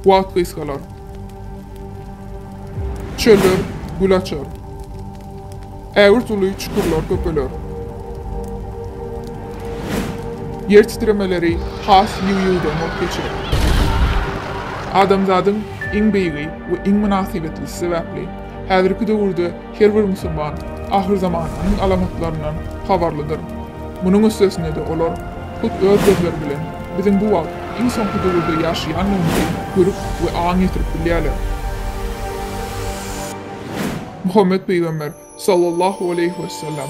Wagt gysgalar. Çöller gül açar. Ägirt uly çukurlar köpeler. Ýer titremeleri has ýygy-ýygydan bolup geçer. Adamzadyň iň beýigi we iň mynasybetli sebäpli häzirki döwürde Her bir musulman ahyrzamanyň alamatlaryndan habarlydyr. Munuň üstesine-de olar hut öz gözleri bilen biziň bu wagt iň soňky döwürde ýaşaýanlygymyzy görüp we aň ýetirip bilýärler. Muhammet pygamber, sallallahu aleýhi wesellem,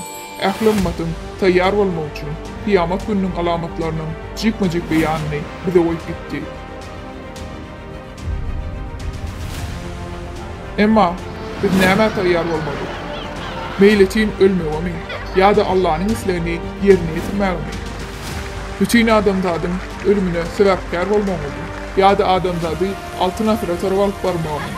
ähli ymmatyň taýýar bolmagy üçin kyýamat gününiň alamatlarynyň jikme-jik beýanyny bize goýup gitdi. Emma biz nämä taýýar bolmaly? Meýletin ölmegemi ýa-da Allanyň islegini ýerine ýetirmegimi? Bütin adamzadyň ölümine sebäpkär bolmagymy ýa-da adamzady Altyn asyra tarap alyp barmagymy?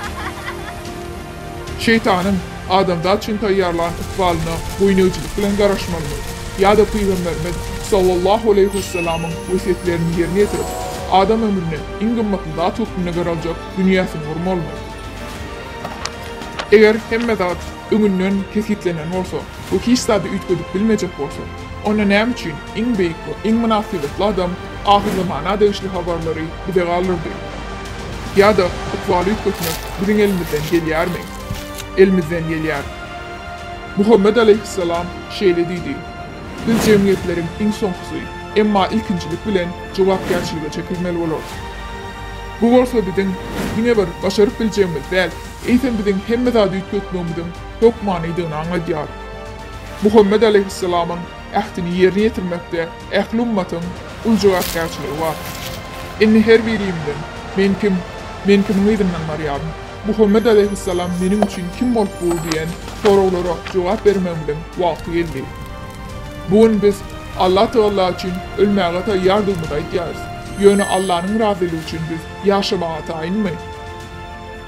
Şeýtanyň adamzat üçin taýýarlan ykbalyna boýnegçilik bilen garaşmalymyz. Ýa-da Pygamberimiz, sallallahu aleýhi wesselamyň wesýetlerini ýerine ýetirip, adam ömrüne iň gymmatly zat hökmünde garaljak dünýäsini gurmalymy? Eger hemme zat öňünden kesgitlenen bolsa we hiç zady üýtgedip bilmejek bolsa, Onda näme üçin iň beýik we iň mynasybetli adam ahyr zamana degişli habarlary bize galdyrdy? Ýa-da ykbaly üýtgetmek biziň elimizden gelýärmi? Elimizden gelýär. Muhammet alaýhyssalam şeýle diýdi, Biz jemgyýetleriň iň soňkusy, emma ilkinjilik bilen jogapkärçilige çekilmeli bolarys. Bu bolsa biziň diňe bir başaryp biljegimiz däl, eýsem biziň hemme zady üýtgetmegimiziň hökmanydygyny aňladýar. Muhammet alaýhyssalamyň ähtini ýerine ýetirmekde ähli ummatyň uly jogapkärçiligi bar. Indi her birimizden, Men kim? Men kimiň yzyndan barýaryn? Muhammet alaýhyssalam meniň üçin kim bolup dur diýen soraglara jogap bermegimiziň wagty geldi. Bu gün biz Allatagalla üçin ölmäge taýýardygymyzy aýdýarys. Ýöne Allanyň razylygy üçin biz ýaşamaga taýynmy?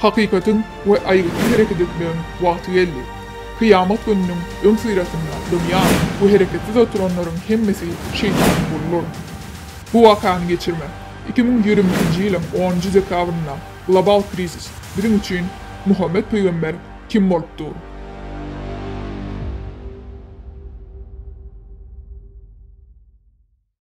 Hakykatyň we aýgytly hereket etmegiň wagty geldi. Kyýamat gününiň öňüsyrasynda dymýan we hereketsiz oturanlaryň hemmesi Şeýtanyň guludyr. Bu wakany geçirmek, iki müň ýigrimi ikinji ýylyň onunjy dekabrynda global krizis, biziň üçin Muhammet pygamber kim bolup dur?